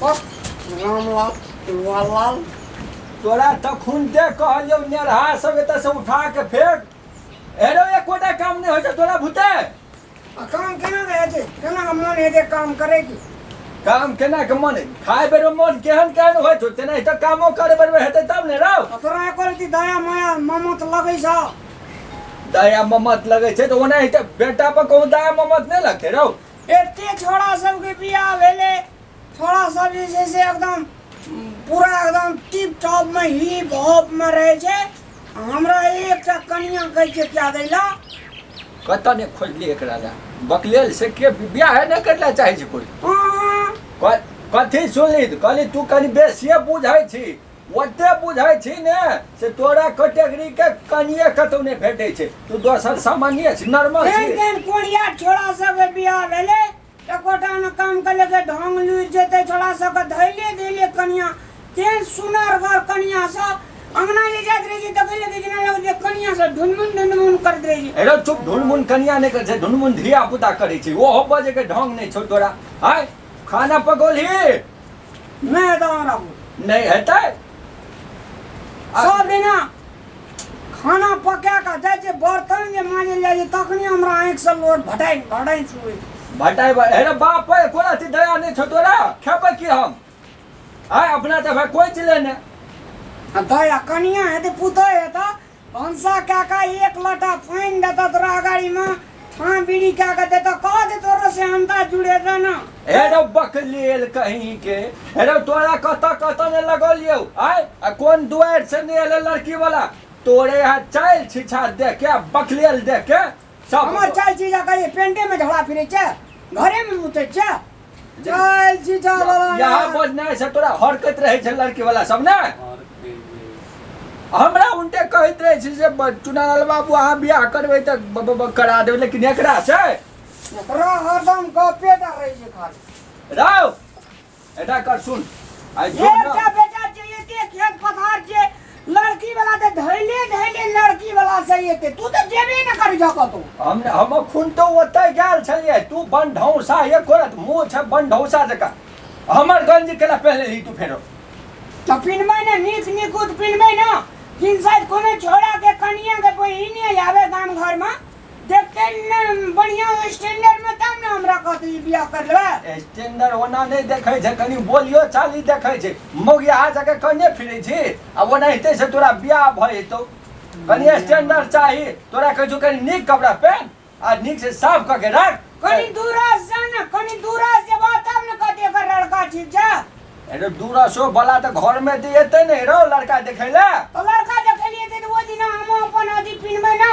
रामलाल कुंवरलाल तोरा तखन दे कहलियौ नेरहा सब एतऽ से उठा के फेंक एरो एकोटा काम नहीं होइ छै तोरा भूते आ काम केना रहै छै केना के मोन हेतै काम करै के काम केना के मन खाए बेरो मन केहन केहन होइ छौ तेना तऽ कामो करे बेर हेतै तब ने रौ आ तोरा एको रति दया माया ममत लगै छ दया ममत लगै छै तऽ ओना हेतै बेटा पर कहूँ दया ममत नहि लगतै रौ एते छोड़ा सबके बियाह भेले छोड़ा सब जे छै से एकदम उम, पूरा एकदम टिप टॉप में हिप हॉप में रहे छै आ हमरा एकटा कनिया कहै छै क्या दैला कतऽ ने खोजली एकरा लए बकलेल से के बियाह नहि करला चाहै छै कोइ हाँ, क- कथी सुनली कहली तू कनी बेसिए बुझै छी ओते बुझै छी ने से तोरा कैटेगरी के कनिए कतौ नहि भेटै छै तू दोसर सामान्य छी नॉर्मल छी केहन कोरिया छोरा सब बियाह भेलै एकोटा ने काम के लेके ढोंग लुरि जेतै छोरा सबके धैले धैले कनिया केहन सुनर घर कनिया सब अंगना ले जात रही छी देखै लगे जेना लगे जे कनिया सब ढुनमुन ढुनमुन करत रही छी अरे चुप ढुनमुन कनिया नहि करै छै ढुनमुन धिया पुता करै छै ओहो बजे के ढोंग नहि छौ तोरा हाय खाना पकौलही नहि दान आबू नहि हेतै सब दिना खाना पका कऽ जाइ छै बर्तन जे माँजल जाइ छै तखने हमरा आँखि से लोट भटाइ भटाइ छुए भटाइ हेरे बाप पर कोन अथी दया नहि छौ तोरा खेबै की हम आय अपना तऽ भाय कोइ चले ने दया कनिया हेतै पुतै हेतै भनसा कए कऽ एक लोटा पानि देतऽ तोरा अगाड़ीमे ठाँ बीड़ी कए कऽ देतऽ कह दे तोरो से हन्ता जुड़े दे ने हेरो बकलेल कहीं के हेरो तोरा कतऽ कतऽ ने लगल यौ आय आ कोन दुआरि से ने एले लड़की वाला तोरे यहाँ चाइल छिछार देख के बकलेल देख के सब हमर चल छी जा कहिए पेंटे में झड़ा फिरे छे घरे में मुते छे चल छी जा बाबा यहाँ ना। बोझ नहीं से तोरा हरकत रहे छे लड़की वाला सब ना हमरा उनके कहत रहे छी जे ब- चुनालाल बाबू अहाँ बियाह करबै तऽ ब- ब- ब- करा देबै लेकिन एकरा से एकरा हरदम गपे टा रहे छे खाली राव एटा कर सुन आई जो एक ना का बेटा जे एते खेत पथार जे लड़की वाला ते धैले धैले लड़की वाला से एते तू तो जेबे न कर जको तू हम हम खुन तो ओतै गेल छलिए तू बन ढौसा ये करत मुंह छ बन ढौसा जका हमर गंज केला पहले ही तू फेरो तो पिनमे ने नीक निकुत पिनमे न किन साइड कोनो छोड़ा के कनिया के बहिने आवे गाम घर में देखते न बढ़िया स्टैंडर्ड में तब ना हमरा कहते ई बियाह कर लेबे स्टैंडर्ड ओना नहीं देखे छै कनी बोलियो चाली देखे छै मौगिया जगह कने फिरे छी आ ओना हेते से तोरा बियाह भ जेतौ कनी स्टैंडर्ड चाही तोरा कहै छौ कनी नीक कपड़ा पहन आ नीक से साफ क के राख कनी दूरा से ना कनी दूरा से बात तब ना कहते एकर लड़का ठीक जा अरे दूरा सो बला त घर में दे एते नहीं रहो लड़का देखे ले तो लड़का देखे लिए थे तो वो दिन हम अपन अथी पिनबे ना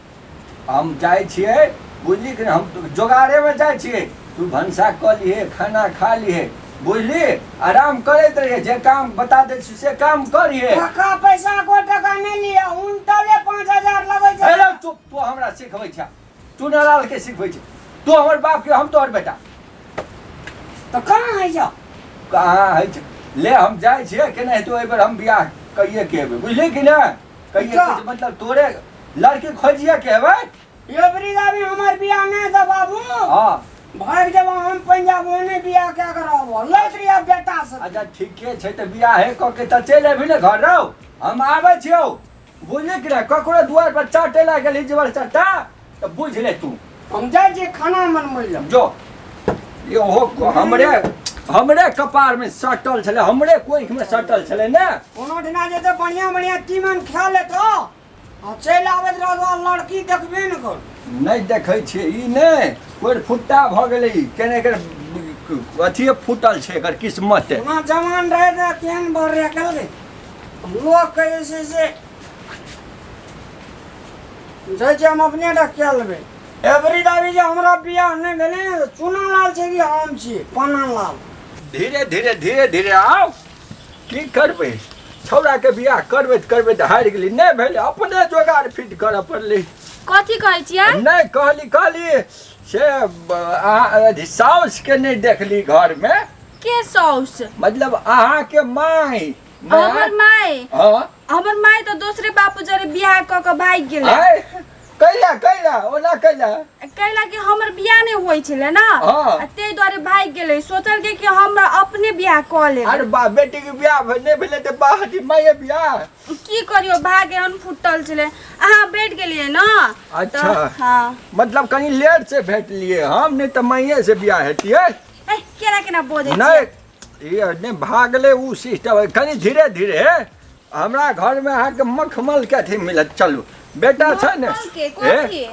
हम जाइ छिए बुझली कि हम जोगाड़ेमे जाइ छिए तू भनसा कऽ लिहे खाना खा लिहे बुझली आराम करैत रहिए जे काम बता दै छी से काम करिए टका पैसा को टका नहि लिअ उनटले पाँच हजार लगै छै अरे तू तू हमरा सिखबै छ तू नालाल के सिखबै छ तू हमर बाप के हम तोहर बेटा तो कहाँ है जा कहाँ है ले हम जाइ छिए केनाहितो एहि बेर हम बियाह कहिए के एबै बुझली कि नहि कहिए अच्छा। कुछ मतलब तोरे लड़की खोजिए के हेबै एवरी गावी हमार बियाह नहीं था बाबू हाँ भाग जब हम पंजाब ओने बियाह क्या करब लौट रही अब बेटा से अच्छा ठीके छै तऽ बियाह हे कऽ के तऽ चलि अबही ने घर रौ हम आबै छियौ बुझली कि ने ककरो दुआर पर चाटे लए गेली जेबर चट्टा तऽ बुझि ले तू हम जाइ छियै खाना मनबै लए जो ये ओहो को- हमरे हमरे कपार में सटल छले हमरे कोइख में सटल छले ने कोनो दिना जे तऽ बढ़िआँ बढ़िआँ तीमन खा लेत आ चलि आबैत रहत आ लड़की देखबे ने कर नहि देखै छियै ई नहि कोइ फुट्टा भऽ गेलै ई केने एकर अथिए फूटल छै एकर किस्मत ओना जवान रहै तऽ केहन बढ़ रहै कहलकै लोकके जे छै से जाइ छी हम अपने टा कए लेबै एवरी दाबी जे हमरा बियाह नहि भेलै ने चुना लाल छै कि हम छी पना लाल धीरे धीरे धीरे धीरे आउ की करबै छौड़ाके बियाह करबै तऽ करबै तऽ हारि गेली नहि भेलै अपने जोगाड़ फिट करऽ पड़लै कथी कहै छियै नहि कहली कहली से अहाँ अथी साउसके नहि देखली घरमे के सौस मतलब अहाँके माय हमर माय हां हमर माय तो दूसरे बापू जरे बियाह क के भाग गेल आय कैला कैला ओना कैला कैला कि हमर बियाह नहीं होई छले ना हाँ। आ ते द्वारे भाग गेले सोचल के कि हम अपने बियाह क ले अरे बा बेटी के बियाह भे- नहि भेलै तऽ बाह हटी माये बियाह की करियो भाग एहन फुटल छले अहाँ बैठ गेलिए ना तऽ- अच्छा। हाँ मतलब कनि लेट से भेटलियै हम नहि तऽ माये से बियाह हेतियै ए, केना केना बोझे नहि ई नहि भऽ गेलै ओ सिस्टम कनि धीरे धीरे हमरा घरमे अहाँके मखमलके अथी मिलत चलू बेटा छै ने मखमलके, कोन हे? के?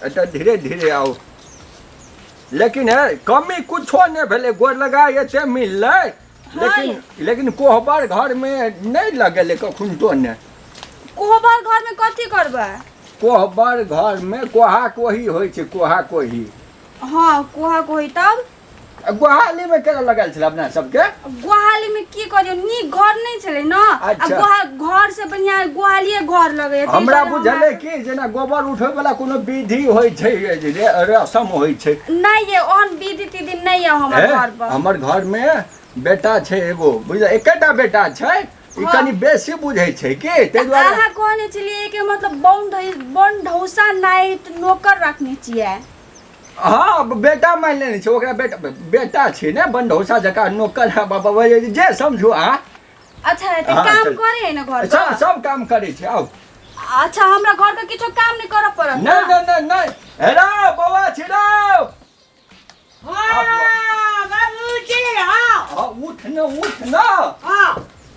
एतऽ धीरे धीरे आउ लेकिन हे कमी कुछो नहि भेलै गोर लगा एते मिललै लेकिन लेकिन कोहबर घरमे नहि लगेलै कखुनतो ने कोहबर घरमे कथी करबै कोहबर घरमे कोहा कोही होइ छै कोहा कोही हँ कोहा कोही तब गोहाली में केना लगल छलै अपना सबके गोहाली में की करियो नीक घर नहीं छले ना आ अच्छा। गोहा- घर से बढ़िया गोहालिए घर लगे हमरा बुझले कि जेना गोबर उठबै वाला कोनो विधि होइ छै जे रे- रसम होइ छै नहीं ये ओहन विधि तिधि नहीं है हमारे घर हैं? पर हमर घर में बेटा छै एगो बुझल एकेटा बेटा छै ई हाँ। कनी बेसी बुझै छै कि ताहि दुआरे अहाँ कहने छलिए कि मतलब बन ढौसा नाइट नौकर रखने छिए हँ बेटा मानि लेने छै ओकरा बेटा बेटा छै ने बंडौसा जकाँ नौकर है बाबा वही जे समझू अहाँ अच्छा तऽ हाँ, काम चल। करे है ना घर सब पर सब काम करै छै आउ अच्छा हमरा घर के किछो काम नहीं करऽ पड़त नहि ना? नहि नहि नहि हेरा बौआ छिरा हाँ, बाबूजी, हाँ, हाँ, उठ न उठ न हाँ।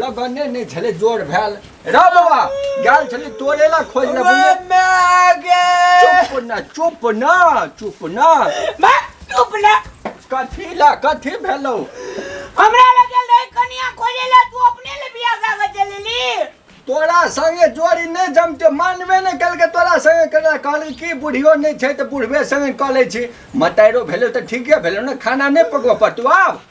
लगने नहि छलै जोर भेल रा बाबा गेल छलै तोरे ला खोज ले बुझे चुप ना चुप ना चुप ना मैं चुप ना कथी ला कथी भेलौ हमरा लगे ले कनिया खोजे ला तू अपने ले बिया कागज चलेली तोरा संगे जोड़ी नहि जमते मानबे नहि केलकै तोरा संगे केना कहली की बुढ़ियो नहि छै तऽ बुढ़बे संगे कऽ लै छी मताइरो भेलै तऽ ठीके भेलै ने खाना नहि पकबऽ पड़तौ आब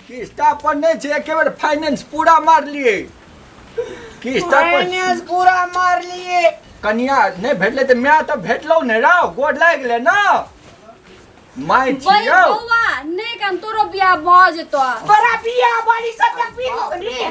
किस्ता पर नहीं छे एके बेर फाइनेंस पूरा मार लिए किस्ता पर फाइनेंस पूरा मार लिए कनिया नहीं भेटले त मैं त भेटलो ने रौ गोड लाग गेले ना माय बड़ी छियो बौआ नहीं कन तोरो बियाह भ जेतो बड़ा बिया वाली सब तक पी लो रे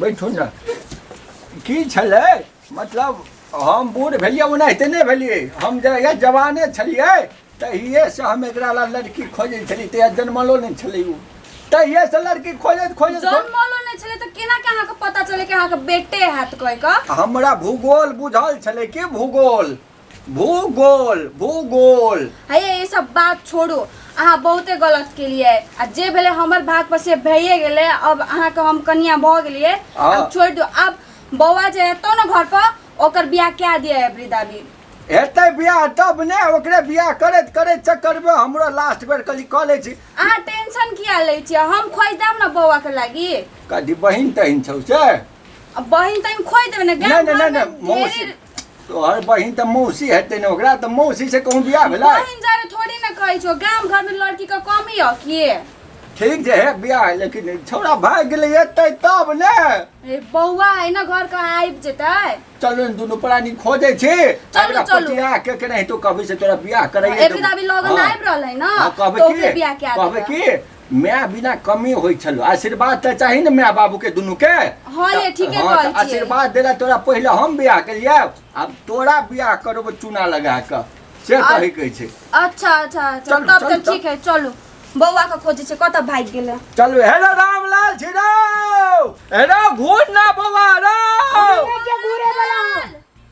बैठू ने की छलै मतलब हम बूढ़ भेलिए ओनाहिते नहीं भेलिए हम जहिया जवाने छलिए तहिए से हम एक लड़की खोजे छली तहिया जन्मलो नहीं छलै ओ तहिए से लड़की खोजे खोजे जन्मलो नहीं छलै तो केना के अहाँ के पता चले कि अहाँ के बेटे हैत कोई का हमरा भूगोल बुझल छलै कि भूगोल भूगोल भूगोल है ये सब बात छोड़ू अहाँ बहुते गलत केलिए आ जे भेले हमर भाग पर से भइए गेले अब अहाँ के हम कनिया भऽ गेलिए हाँ। अब छोड़ दो अब बौआ जे हेतो ना घर पर ओकर बियाह क्या दिया है वृद्धा भी हेतै बियाह तब ने ओकरे बियाह करैत करैत चक्कर में हमरो लास्ट बेर कली कऽ लै छी अहाँ टेंशन किया ले छियै हम खोज देब ना बौआ के लागी कदी बहिन तहिन छौ से अब बहिन तहिन खोज देबै ना गाम नहि नहि घर नहि में नहि मौसी ढेरी तोहर बहिन तऽ मौसी हेतै ने ओकरा तऽ मौसी से कहूँ बियाह भेलै बहिन जारे थोड़ी ना कहै छो गाम घर में लड़की का कमी है कि ठीक जे है बियाह लेकिन छोड़ा भाग गेलै एतै तब ने ए बौआ है ना घर का आइब जेतै चलो ने दुनू प्राणी खोजै छी चलू, एकरा चलू। पटिया के के नहीं तो कभी से तोरा बियाह करैए एक दिन अभी लगन आइब रहल है ना कहबे तो की ओकरे बियाह के कहबे आदमी की माय बिना कमी होइ छलो आशीर्वाद तऽ चाही ने माय बाबू के दुनू के हाँ ये, ठीके हाँ, कहै तऽ छियै। आशीर्वाद देला तोरा पहिले हम बियाह केलियै आब तोरा बियाह करब चूना लगा कऽ से आ- कहै के छै अच्छा अच्छा अच्छा चलू, तब चलू, तऽ ठीक है चलू बौआ के खोजे छै कतऽ भागि गेलै चलू हे रे रामलाल छी रौ हे रौ घूर ना बौआ रौ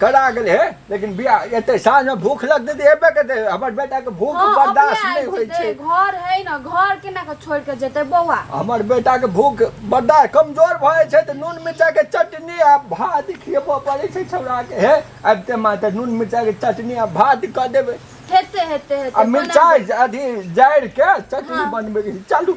करा गेल हे लेकिन बिया एते साँझ में भूख लगते तऽ एबे करते हमर बेटा के भूख हाँ, अपने बर्दाश्त आयल नहीं होइ जेतै। छै घर है ना घर केना के छोड़ के जेते बौआ हमर बेटा के भूख बर्दाश्त कमजोर भए छै तऽ नून मिर्चा के चटनी आ भात खियबो पड़े छै छौड़ा के हे अबते माँ तऽ नून मिर्चा के चटनी आ भात कऽ देबै हेते हेते हेते आ बना मिर्चाइ अथी जारि के चटनी हाँ। बनबै के छै। चलू